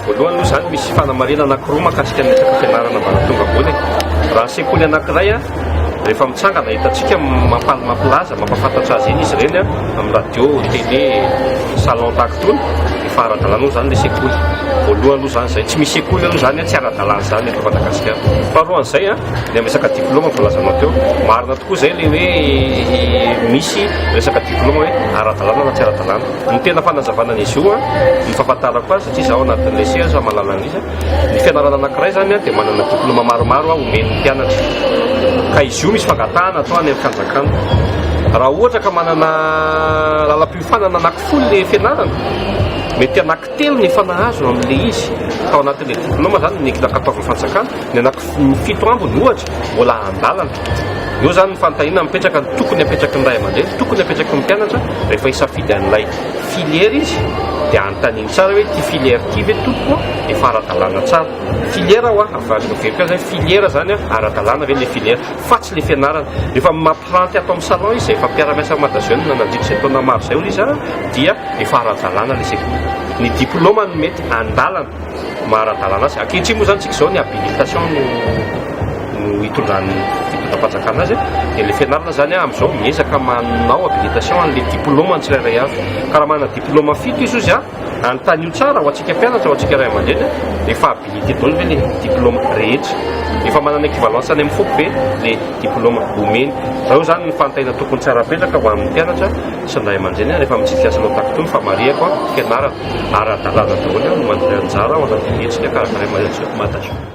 Voalohany aloha izany misy fanamarihana anankiroa mahakasika ny resaka fianarana ambaratonga ambony. Raha sekoly anankiray a, rehefa mitsangana hitantsika mampal mampilaza mampafantatra azy iny izy ireny a, amin'ny radio, télé, salon tahaka itony, efa ara-dalàna aloha izany ilay sekoly. Voalohany aloha izany izay, tsy misy sekoly aloha izany a, tsy ara-dalàna izany eto Madagasikara. Faharoa an'izay a, ny amin'ny resaka diplaoma voalazanao teo, marina tokoa izay ilay hoe misy resaka diplaoma hoe ara-dalàna na tsy ara-dalàna. Ny tena fanazavana an'izy io, ny fahafantarako azy satria izaho ao anatin'ilay seha aza mahalala an'izy a, ny fianarana anankiray izany a dia manana diplaoma maromaro omen'ny mpianatra. Ka izy io misy fangatahana atao any amin'ny fanjakana. Raha ohatra ka manana lalam-piofanana anakifolony ny fianarana, mety hanaky. Telo ny efa nahazo amin'ilay izy tao anatin'ilay diplaoma izany no nentina kataovin'ny fanjakana, ny anaky fito ambiny ohatra mbola an-dalana. Eo izany ny fanontaniana mipetraka, ny tokony hapetraky ny ray aman-dreny, ny tokony hapetraky ny mpianatra rehefa hisafidy an'ilay filière izy dia anontaniany tsara hoe ity filière ity ve tompoko efa ara-dalàna tsara? Filière ho'a, avadika very koa izay, filière izany ara-dalàna ve ilay filière fa tsy ilay fianarana. Rehefa Planty ato amin'ny salon izy efa mpiara-miasa amin'i Madajeune nandritra izay taona maro izay hoy izy an, dia efa ara-dalàna ilay sekoly. Ny diplôma no mety andalana maha ara-dalàna azy. Ankehitriny moa izany tsika izao ny habilitation no no hitondran'ny fitondram-panjakana azy dia ilay fianarana izany amin'izao miezaka manao habilitation an'ilay diplôma ny tsirairay avy. Ka raha manana diplôma fito izy hoy izy an, Anontanio tsara ho antsika mpianatra, ho antsika ray aman-dreny hoe efa habilité daholo ve le diploma rehetra? Efa manana équivalence any amin'ny foko ve le diploma omeny? Fa eo zany ny fantaina tokony tsy ara-petraka ho an'ny mpianatra sy ny ray aman-dreny rehefa mitsidika azy hanao taktony fa marihako an, fianarana ara-dalàna daholo no mandray anjara ao anatin'ny hetsika karakarain'ny Maison Mada Show.